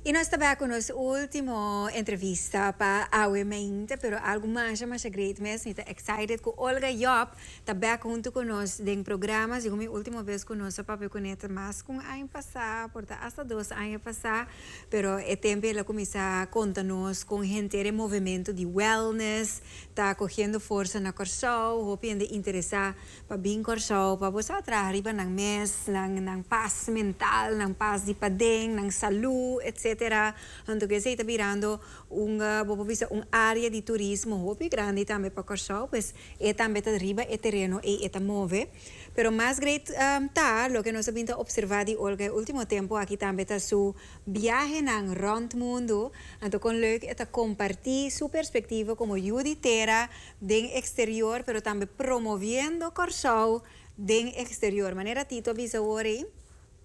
Y nos ta bai cu nos ultimo entrevista pa awe meinte, pero algo masha masha great mes. Mi ta excited cu Olga Job ta back hunto cu nos den programa. Segun mi ultimo bes cu nos a papia cune ta mas cu un aña pasa, por ta hasta dos aña pasa. Pero e tempo el a cuminsa conta nos con henter e movemento di wellness, Ta cogiendo forza na Corsou, hopi hende interesa pa bin Corsou pa bo sa traha riba nan mes, nan nan paz mental, nan paz di paden, nan salu, etc. Anto ke esei ta birando un bo por bisa un área di turismo hopi grandi tambe pa Corsou, pues e tambe ta riba e tereno ei e ta move. Pero mas great ta loke nos a bin ta observa di Olga e ultimo tempo aki tambe ta su. biahenan rònt mundu, anto kon leuk e ta kompartí su perspektivo komo yu di tera den eksterior pero tambe promoviendo Kòrsou den eksterior. Manera Tito a bisa awor ei,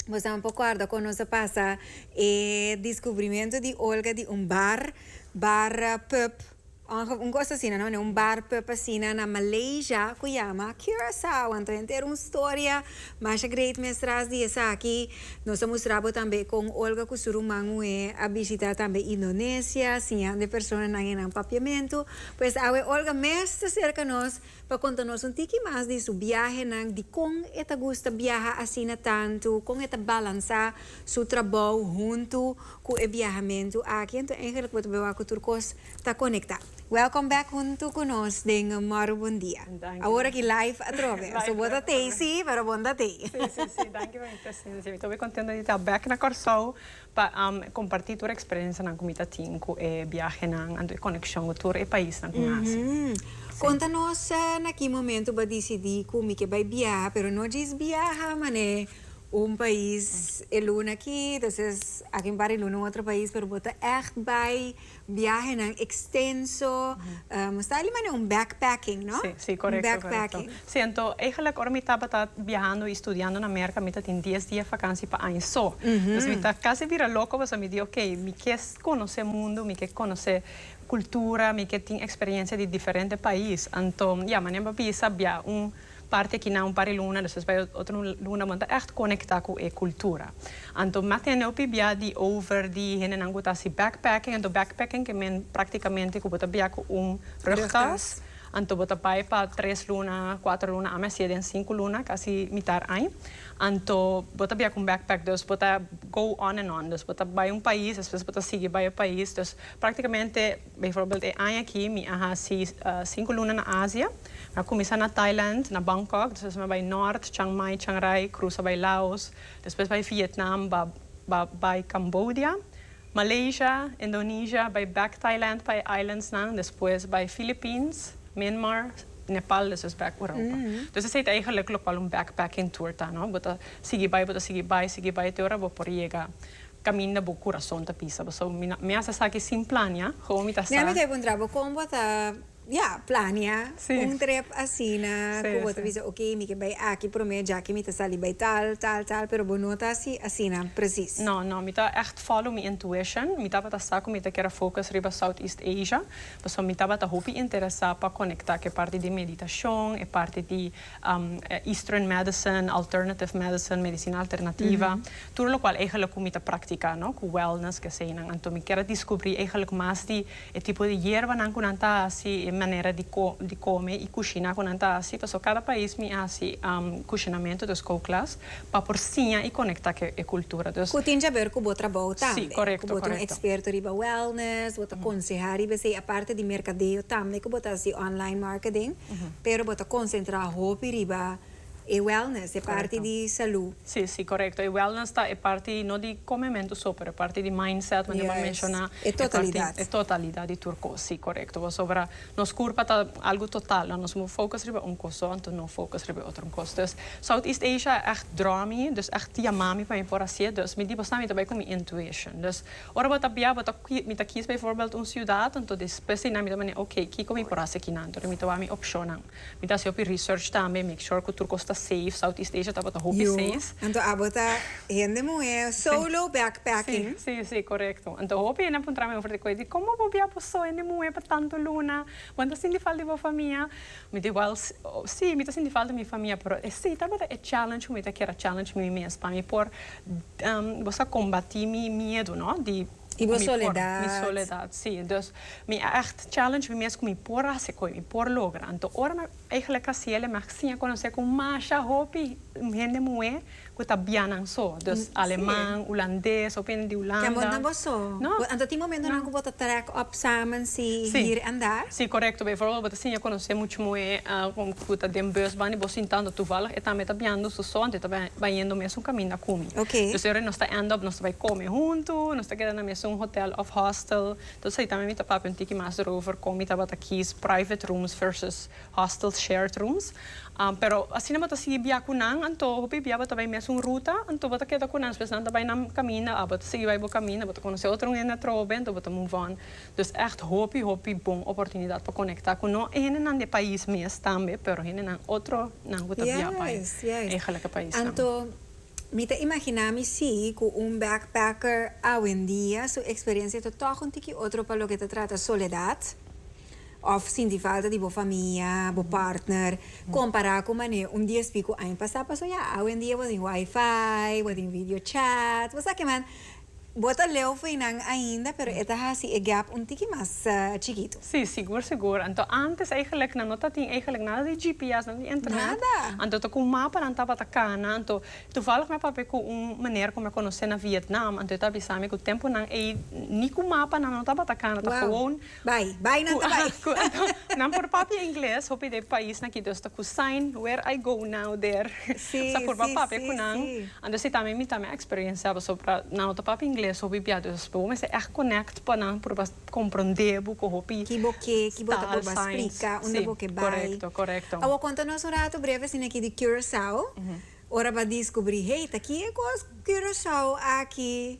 boso nan por kòrda kon nos a pasa e deskubrimentu di Olga di un bar, bar pub, Anto un cos asina no, ne un bar pub asina na Malaysia cu yama Curaçao, anto henter hera un storia masha great mes tras di esaki, nos a mustra bo tambe con Olga cu su ruman Hue a bishita tambe Indonesia, siñande personanan e nan papiamento, pues awe Olga mes ta cerca nos pa conta nos un tiki mas di su biahenan, di con e ta gusta biaha asina tanto, con e ta balansa su trabou hunto. Ku e biahamentu aki anto engelik bo ta bin wak ku tur kos ta konektá. Welcome back huntu ku nos den Morubun Dia. Awor aki live atrobe. So bo ta tei si, pero bon ta tei. Si, si, si. Danki pa mi presensia. Mi ta hopi kontento di ta back na Kòrsou pa kompartí tur eksperensianan ku mi ta tin ku e biahenan anto e konekshon ku tur e paisnan ku mi hasi. Konta nos na ki momentu bo a disidí ku mi ke bai biaha, pero no djis biaha manera. Un pais e luna aki, entonces aki un par di luna un otro pais, pero bo ta echt bai biahenan extenso, bo sta ali manera un backpacking, no? Sí, sí, correcto, correcto. Un backpacking. Sí, anto eigenlijk ora mi tabata biahando y studiando na Merca mi ta tin dies dia vakantie pa aña so. Entonces mi ta casi bira loco pasobra mi di ok, mi ke conoce mundo, mi ke conoce cultura, mi ke tin experiencia di diferente pais. Anto, ya, manera bo a bisa, bia un. Parti akinan un par e luna, despues bai otro luna bo ta ègt konektá ku e kultura. Anto mi a tende hopi bia di over di hendenan ku ta hasi backpacking. Anto backpacking ke men praktikamente ku bo ta bia ku un rugtas. Anto bo ta bai pa tres luna, kuater luna, ami a hasié den sinku luna, kasi mitar aña. Anto bo ta bia ku un backpack, dus bo ta go on and on. Dus bo ta bai un pais, despues bo ta sigui bai e pais. Dus praktikamente. Bijvoorbeeld e aña aki mi a hasi sinku luna na Asia. Mi a kuminsá na Thailand, na Bangkok, despues mi a bai nòrt, Chiang Mai, Chiang Rai, krusa bai Laos, despues bai Vietnam, ba bai Cambodia, Malaysia, Indonesia, bai bèk Thailand pa e islandsnan, despues bai Philippines, Myanmar, Nepal, despues bèk Europa. Dus esei ta eigenlijk lokual un backpacking tour ta, no. Bo ta sigui bai, bo ta sigui bai, sigui bai te ora bo por yega. Caminda bo curason ta pisa bo. So mi na mi hace esaki sin plania como mi ta sa. Mira mi ta puntra bo con bo ta ya plania un trip asina cu bo ta bisa ok mi ke bay aki prome jaki mi ta sali bay tal tal tal pero bo no ta hasi asina precies. No no mi ta echt follow mi intuition mi tabata sa cu mi ta kere focus riba South East Asia pasobra mi tabata hopi interesa pa conecta cu e parti di meditacion e parti di Eastern medicine, alternative medicine, medicina alternativa, tur locual eigenlijk cu mi ta practica, no? Cu wellness cu eseinan. Anto mi kier a descubri eigenlijk mas di e tipo di yerbanan cu nan ta haci, e manera di di come y cushina cu nan ta haci, pasobra cada pais mi haci cushinamento, dus kookles, pa por siña y conecta cu e cultura. Dus. Cu tin cabeur cu bo trabou tambe. Si, correcto, correcto. Cu bo ta un experto riba wellness, bo ta conseha riba esei, aparte di mercadeo tambe cu bo ta haci online marketing. pero bo ta konsentrá hopi riba e wellness, e parti di salú. Sí, sí, korekto. E wellness ta e parti no di komementu so, pero e parti di mindset, manera bo a menshoná, e parti, e totalidat di tur kos, sí, korekto. Pasobra nos kurpa ta algu total, lo nos mos focus riba un kos so, anto no focus riba e otro kos. Dus, Southeast Asia a ègt draw mi, dus a ègt yamá mi pa mi por hasié, dus mi di bo sa, mi ta bai ku mi intuition. Dus. Ora bo ta bia bo ta mi ta kies bijvoorbeeld un ciudad anto despues di nan mi ta mane ok kiko mi por haci kinan anto mi ta wak mi opcionnan mi ta haci hopi research tambe make sure cu tur cos ta safe south east asia tabata hopi safe. Yo anto abo ta hende muhe solo backpacking. Si si si correcto anto hopi hende a puntra mi over de coe di como bo bia bo so hende muhe pa tanto luna bo anto sinti falta di bo famia Mi ta igual, sí, mi ta sinti falta mi famia, pero esei tabata e challenge ku mi ta kera challenge mi mes pa mi por bo sa kombatí mi miedu, no? di. I bo soledat. Mi soledat, sí. Dus mi a ègt challenge mi mes ku mi por hasi koe, mi por logra. Anto ora mi a eigelik hasiel, mi a siña konosé ku masha hopi hende muhé. cu ta bianan so. Dus Aleman, Hulandes, hopi hende di Hulanda. Can bo na bo so. No. Bo, anto tin momentonan cu bo ta track op samen si hiri a nda? Si, corecto. Bijvoorbeeld bo ta siña conoce mucho moe cu ta den bus bandi, bo sinta anto tuvallig e tambe ta bianando su so, anto e ta bañendo mesun camin na cumi. Ok. Dus e ora nos ta end up, nos ta bay come hunto, nos ta keda na mesun hotel of hostel. Entonces, ey tambe mi ta papia un tiki mas erover con mi tabata kies private rooms versus. hostels, shared rooms, pero asina bo ta sigui bia cu nan anto hopi bia bo ta bay mesun ruta anto bo ta keda cu nan despues nan ta bay nan caminda a bo ta sigui bay bo caminda bo ta conoce otro hende atrobe anto bo ta move on dus echt hopi hopi bon oportunidad pa conecta cu no hendenan di e pais mes tambe pero hendenan otro nan cu ta bia bay eigenlijke paisnan. Anto mi ta imagina mi si cu un backpacker awendia su experiencia ta toch un tiki otro pa loke ta trata soledad. òf sinti falta di bo famia, bo partner, kompará ku manera un dies piko aña pasá paso ya awendia bo tin wifi, bo tin video chat, bo sa ke man, bo ta leu fu einan ainda pero e ta hasi e gèp un tiki mas chikitu. Sí, sigur, sigur. Anto ántes eigelik nan no ta tin eigelik nada di GPS, nada di internet. Anto ta ku mapa nan tabata kana. Anto tuvallig mi a papia ku un meneer ku mi a konosé na Vietnam, anto e ta bisa mi ku tempunan ei ni ku mapa nan no tabata kana, ta gewoon Bai, bai nan ta bai. Cu anto nan por papia ingles, hopi de pais na Quito esta cu sign where I go now there Si, sa por ba si, papia si, cu nan. si. Anto si tambe mi tambe a experienciabo so pra nan no ta papia ingles hopi bia dus bo mester echt connect pa nan por bo a comprende bo cu hopi Ki bo ke, ki bo ta por ba style signs splica unda si bo ke bai. correcto correcto. Awor conta nos un rato breve asina aki di Curaçao ora ba discubri hey ta ki e cos Curaçao aki.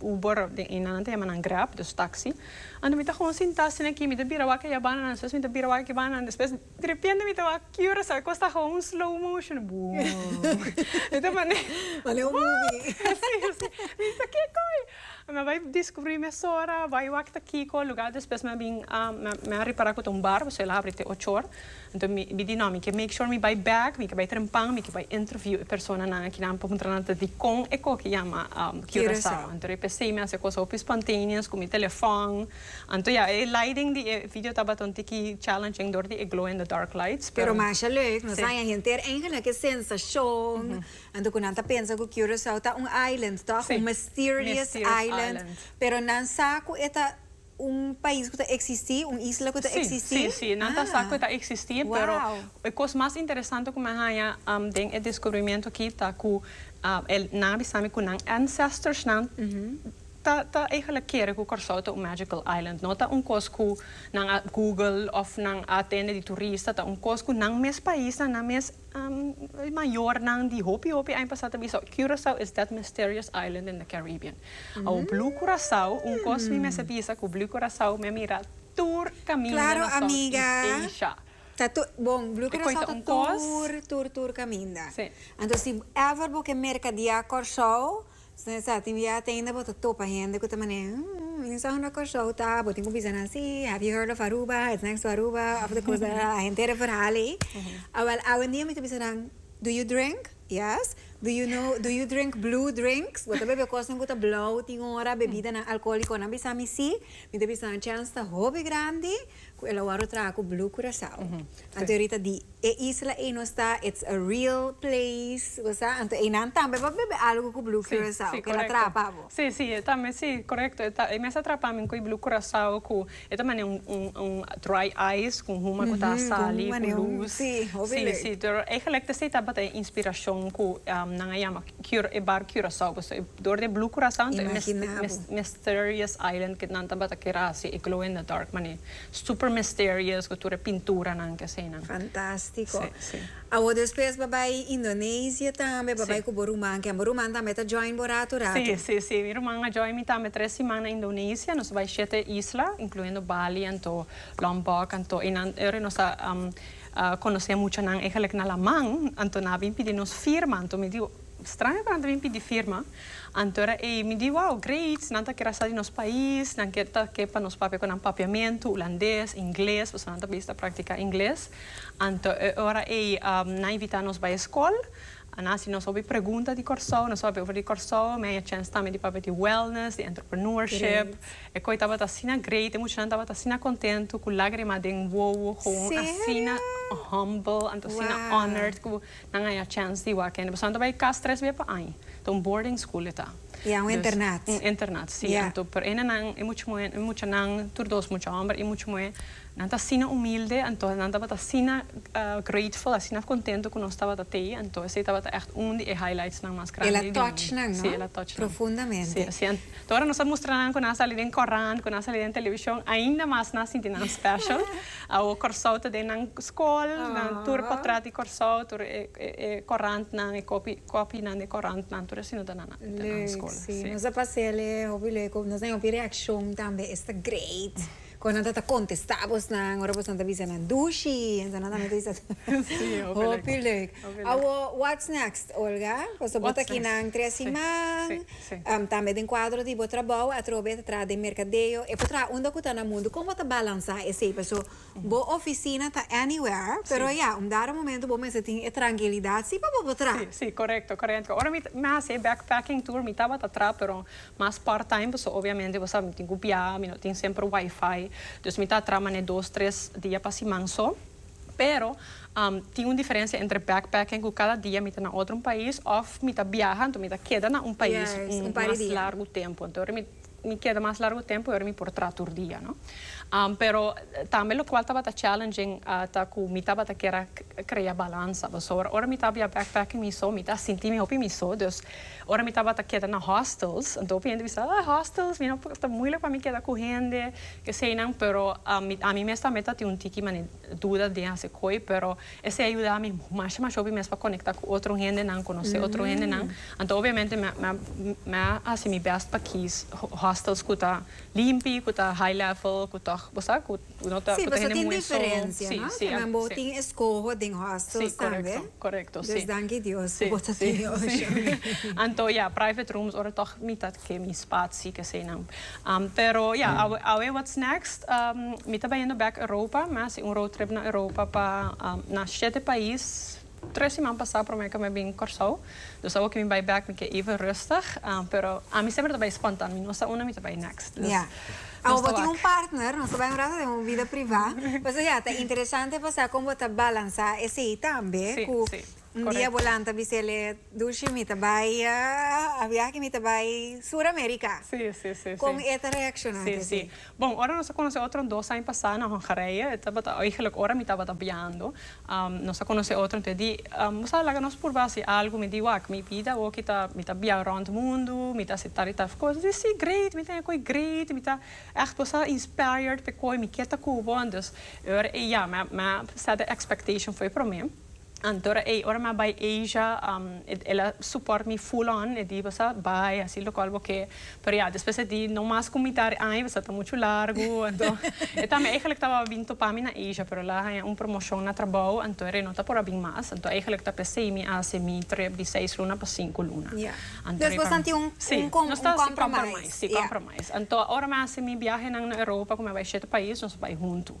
Uber den Eina nan ta yama nan Grab, dus taxi. Anto mi ta gewoon sinta asina aki, mi ta bira wak e yabana nan, despues mi ta bira wak e kibana nan, despues derepente mi ta wak Curaçao, e kos ta gewoon slow motion, boom. Mi ta mane, what? Mi ta kiko ei? Mi a bai descubri mesora, bai wak ta kiko lugar, despues mi a bin, mi a repara cu ta un bar, pasobra el a habri te ocho or. Anto mi di no, mi ke make sure mi bai bek, mi ke bai trempan, mi ke bai interview e personanan aki nan pa puntra nan ta dikon e koki yama Curaçao. Anto riba esei mi a hasi e kosa hopi spontaneous ku mi telefòn. Anto ya, e lighting di e video tabata un tiki challenging dor di e glow in the dark lights. Pero masha leuk, nos haña henter enke na ke sensashon, anto ku nan ta pensa ku Curaçao ta un island tòg, un mysterious island, pero nan sa ku e ta. Un pais ku ta eksistí, un isla ku ta eksistí? Sí, sí, sí, nan ta sa ku e ta eksistí, pero e kos mas interesante ku mi a haña den e deskubrimentu akí ta ku nan a bisa mi ku nan ancestornan ta ta eigentlik kere ku Kòrsou ta un magical island. No ta un kos ku nan a google òf nan a atende di turista, ta un kos ku nan mes paisnan, nan mes mayornan di hopi hopi aña pasá ta bisa, Curaçao is that mysterious island in the Caribbean. Awo Blue Curacao un cos mi mester bisa cu Blue Curacao mi a mira tur caminda na Southeast Asia. Bon, Blue Curacao ta tur tur tur caminda. Anto si ever bo ke mercadia Corsou, sino esa tin via tenda bo ta topa hende cu ta mane, Hm, mi sa unda Corsou ta, bo tin cu bisa nan si, have you heard of Aruba, it's next to Aruba, of the coast, a henter e verhal ey. Awel, awendia mi ta bisa nan, do you drink? Yes, do you know, do you drink blue drinks? Bo ta bebe kosnan ku ta blou tin ora, bebidanan alkoliko? Nan bisa mi si, mi ta bisa nan chèns ta hopi grandi ku el a wòrdu traha ku blue Curaçao. Anto awyerita di e isla ei nos ta it's a real place, bo sa, anto einan tambe por bebe algu ku blue Curaçao, ku el a traha pa bo. Si, si, e tambe si, korekto, e mester traha pa mi ku e blue Curaçao ku E ta mane un dry ice con huma cu ta sali cu luz. Sí, hopi lei. Sí, sí. Eigenlijk ta esey tabata e inspiracion cu nan a yama e bar Curaçao. Pasobra e dor di e Blue Curaçao ento e mes mysterious island cu nan tabata kier a haci e glow in the dark mane. Super mysterious cu tur e pinturanan cu eseynan. Fantastico. Sí, sí. Awor despues bo bai Indonesia tambe bo bai cu bo ruman ken bo ruman tambe ta join bo rato rato. Si si si mi ruman a join mi tambe tres siman na Indonesia nos bai shete isla incluyendo Bali anto Lombok anto y nan ora nos a conoce mucha nan eigenlijk na laman anto nan a bin pidi nos firma anto mi di straño cu nan ta bin pidi firma anto ora ey mi di wow great nan ta kier a sa di nos pais nan kier ta ke pa nos papia cu nan papiamento Hulandes Ingles pasobra nan ta bisa practica Ingles. Anto e ora ei nan invitá nos bai e skol. Nan hasi nos hopi pregunta di Kòrsou, nos papia over di Kòrsou. Mi a haya chèns tambe di papia di wèlnès, di entrepreneurship. E koi tabata asina great, e muchanan tabata asina kontentu ku lágrima den wowo, gewoon asina humble, anto asina honored ku nan a haya chèns di wak kende. Pasobra nan ta bai kas tres bia pa aña. Ta un boarding school e ta. I a un internat. Un internat, sí. Anto por ene nan, e mucha muhé, e muchanan, tur dos mucha hòmber i mucha muhé. Nan ta asina humilde, anto nan tabata asina grateful, asina contento cu nos tabata tei, anto esey tabata echt un di e highlightsnan mas grandi. El a touch nan, no? Si, el a touch nan. Profundamente. Si, si. Anto ora nos a mustra nan cu nan a sali den corant, cu nan a sali den television, ainda mas nan a sinti nan special. Awo Corsou ta den nan school, nan tur potrat di Corsou, tur e, e, e corantnan, e copi, copinan di corantnan, tur esey no ta na, na, na nan school. Leuk, si. Nos a pasela hopi leuk, nos a den hopi reaccion tambe, esta great. Kon nan ta ta kontestá bos nan ora bos nan ta bisa nan dushi esnan ta bisa hopi leuk awo wats next Olga paso bo ta aki nan tres siman tambe den kuadro di bo trabou atrobe ta traha den merkadeo e por traha unda ku ta na mundu kon bo ta balansá esei paso bo ofisina ta anywhere pero ya un dado momento bo mester tin e trankilidat si pa bo por traha. Si korekto korekto ora mi mi a hasi e backpacking tour mi tabata traha pero Mas part time pasobra obviamente bo sabi mi tin cu bia, mi no tin semper wifi, dus mi ta tra manera dos tres dia pa siman so, pero tin un diferencia entre backpacking cu cada dia mi ta na otro un pais of mi ta biaha entonces mi ta keda na un pais mas largo tempo entonces ora mi mi keda mas largo tempo ora mi por tra tur dia no pero tambe locual tabata challenging ta cu mi tabata keda crea balansa pasobra ora mi ta bia backpacking mi so mi ta sinti mi hopi mi so dus Ora mi tabata keda na hostels, anto hopi hende bisa, ah, hostels, mi no, ta muilek pa mi keda ku hende, keseinan, pero ami, ami mes tambe ta tin un tiki mane duda den hasi koe, pero esei a yuda mi masha masha hopi mes pa konekta ku otro hendenan, konosé otro hendenan, anto obviamente mi a, mi a hasi mi bèst pa kiis hostels ku ta limpi, ku ta high level, ku tòg bo sa, ku. Sí, pasobra tin diferencia, no? Tambe bo tin escoho den hostels tambe. Sí, correcto, correcto, sí. Dus danki Dios cu bo ta tin e opcion. Sí, sí. Anto ya, private rooms ora tog mi ta ke mi spaci, kesenan. Pero ya, awe, awe what's next? Mi ta bayendo bek Europa, mi a hasi un road trip na Europa pa, na shete pais. Tres siman pasá promé ke mi a bin Kòrsou. Dus awo ke mi bai bèk mi ke even rùstig. Pero ami semper ta bai spontan. Mi no sa unda mi ta bai nèkst. Dus nos ta wak. Awo bo tin un partner, nos ta bai un rato den un vida privá. Pasobra ya ta interesante pa sa kon bo ta balansá esei tambe ku un dia bo lanta bis'el e Dulshi mi ta bai a biaha ke mi ta bai Sur Amerika. Kon e ta reakshoná di esei? Bon, ora nos a conoce otro dos aña pasa na Hongarije, e tabata eigenlijk ora mi tabata biando, nos a conoce otro entonces di bo sa laga nos purba haci algo, mi di wak, mi bida awoki ta mi ta bia rond mundo, mi ta haci tal y tal cos, mi di si great, mi tene koe great, mi ta echt bo sa inspired pe koe, mi kier ta cu bo, entonces ora e yama, mi a set de expectation fo'i prome. Anto ora ei, ora mi a bai Asia, el a support mi full on, e di Bosa bai hasi locual bo ke. Pero ya, despues e di no mas cu mi ta e aña, pasobra ta mucho largu, anto e tambe eigenlijk tabata bin topa mi na Asia, pero el a haña un promotion na trabou, anto ora e no ta por a bin mas, anto eigenlijk ta p'esei mi a hasi mi trip di seis luna pa sinku luna. Ya. Dus bosan tin un compromise. Nos ta hasi compromise, si, compromise. Anto ora mi a hasi mi biahenan na Europa, cu mi a bai shete pais, nos a bai huntu.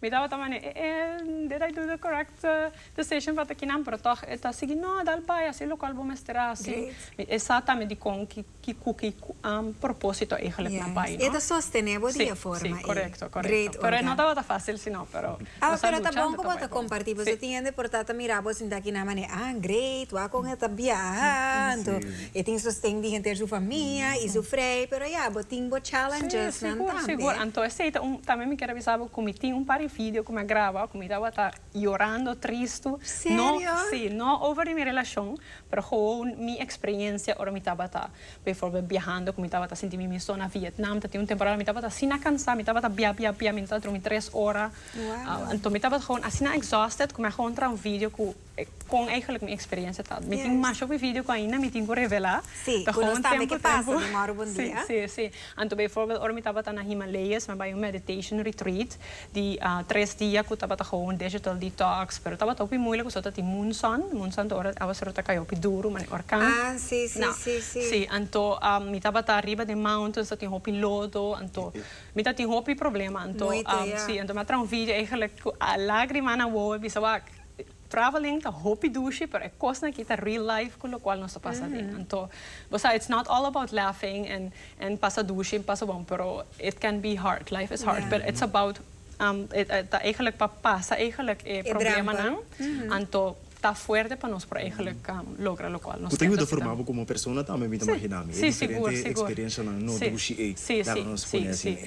Mi tabata mane, eh eh, did I do the correct decision pa ta kinan? Pero tòg e ta sigui, no, dal bai, asi e lokal bo mester a hasi. Great. E sa tambe di kon ki ki ku ki propósito eigenlijk na bai, no? E ta sostené bo di e forma ei. Sí, sí, korekto, korekto. Great, Olga. Pero e no tabata fásil sino, pero nos a lucha ante ta bai bon. Pero ta bon ku bo ta kompartí. Bo ta tihende por ta mira bo sinta kinan mane, ah, great, wak kon e ta biaha anto. E tin sosten di henter su famia y su frei, pero ya bo tin bo challenges nan tambe. Sí, sigur, sigur. Anto esei ta un, tambe mi kier a bisa bo cu mi tin un par di video cu mi a graba cu mi tabata yorando, tristu. Serio? No, sí, no over di mi relacion, pero gewoon mi experiencia ora mi tabata, bijvoorbeeld, biahando cu mi tabata sinti mi misto na Vietnam, ta tin un temporada mi tabata asina cansa, mi tabata bia, bia, bia, mi no tabata durmi tres ora. Wow. Anto mi tabata gewoon asina exhausted cu mi a gewoon traha un video cu Con eigenlijk mi experiencia ta. Mi tin masha cu video cu ainda mi tin cu revela. Si, cu nos tambe ke pasa di mor bon dia. Si, si, si. Anto bijvoorbeeld ora mi tabata na Himalayas mi a bai un meditation retreat di tres dia cu tabata hou un digital detox pero tabata hopi moeilijk pasobra ta tin munzon, munzon ta ora aguaceroi ta caya hopi duru manera orkan. Ah, si, si, si, si. Si, anto mi tabata riba den mountains ta tin hopi lodo anto mi ta tin hopi problema anto Moito, ya. si, anto mi a traha un video eigenlijk cu a lagrima na wowo a bisa wak. Traveling ta hopi dushi pero e kosnan aki ta real life ku lokual nos ta pasa aden. Anto bo sa it's not all about laughing en en pasa dushi en pasa bon pero it can be hard life is hard pero it's about ta eigenlik pa pasa eigenlik e problemanan anto ta fuerte pa nos por eigenlik logra lokual nos ta necesita. Ku ta yuda forma bo komo persona tambe mi ta imaginá mi e diferente eksperenshanan no dushi ei laga nos pone asina.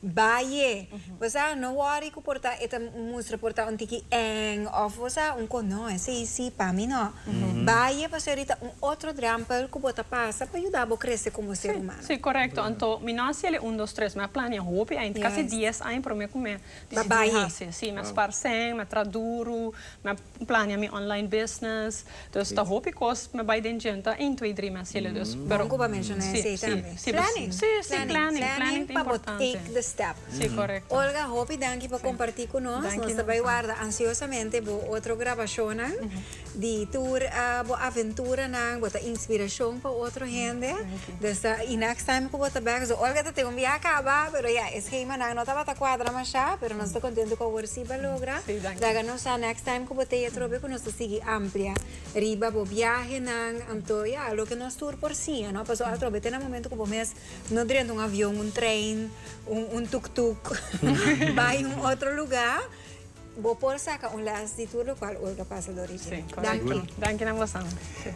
Baie. Bo sa, no worry cu por ta, e ta mustra por ta un tiki eng of bo sa, un con no, esey si, pa mi no. Baie pasobra e ta un otro drempel cu bo ta pasa pa yuda bo crece como ser humano. Si, corecto. Anto, mi no a haci el e un, dos, tres, mi a plania hopi ain, casi dies ain, pero mi a cumen, mi a haci, mi a sparcen, mi a traha duro, mi a. Plania mi online business. Dus ta hopi cos me bay den djenta ein twee drie mes hile dus. Bon cu bo menciona esey tambe. Planning. Si si planning planning ta importante. Planning pa bo take the step. Si correcto. Olga hopi danki pa comparti cu nos. Nos ta bay warda ansiosamente bo otro grabacionnan di tur bo aventura nan bo ta inspiracion pa otro hende. Desta e next time cu bo ta bek so olga ta tin un biaha caba pero ya e schema nan no tabata cuadra masha pero nos ta contento cu awor si bo logra laga nos sa next time cu bo ta e atrobe cu nos ta sigui amplia riba bo biahenan anto ya loke nos tur por siña no pasobra atrobe ta na momento cu bo mes no drenta un avion un train un tuktuk bay un otro lugar. Bo por saca un les di tur locual Olga pasa dori dje. Danki. Danki na bosan.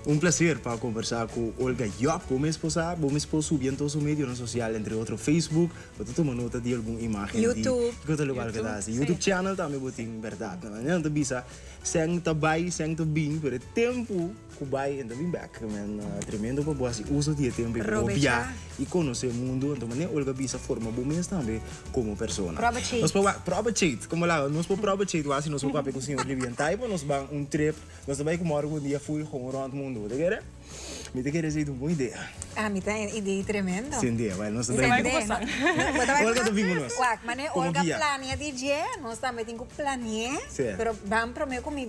Un placer pa conversa cu Olga Job. Bo mes por sa, bo mes por subi anto su medionan social, entre otro Facebook, bo ta tuma nota di algun imagen di YouTube. Di conta locual cu ta haci. YouTube channel tambe bo tin, berdad. Nan ta bisa, Seng ta bay, seng ta bin, pero e tempo. Ku bai anto bin bek. Men tremendo pa bo hasi uso di e tempu i bo bia i konosé mundu anto mane Olga bisa a forma bo mes tambe komo persona. Proba chait. Nos por wak proba chait komo el habla nos por proba chait wak si nos por papia ku señor Libian tai pa nos ban un trip nos ta bai ku morgo un dia ful houn ront mundu bo ta kere? Mi ta kere esei ta un bon idea. Ah mi ta e idei tremendo. Sende wèl nos ta bai Sende no bo ta bai ku nos. Olga ta bin ku nos wak mane komo Olga bia. plania di dje nos tambe tin ku planié Ser. pero ban promé ku mi.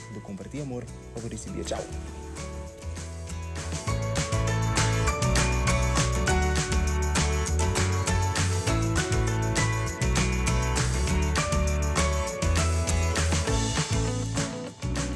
Bo comparti amor pa bo ricibi e chao.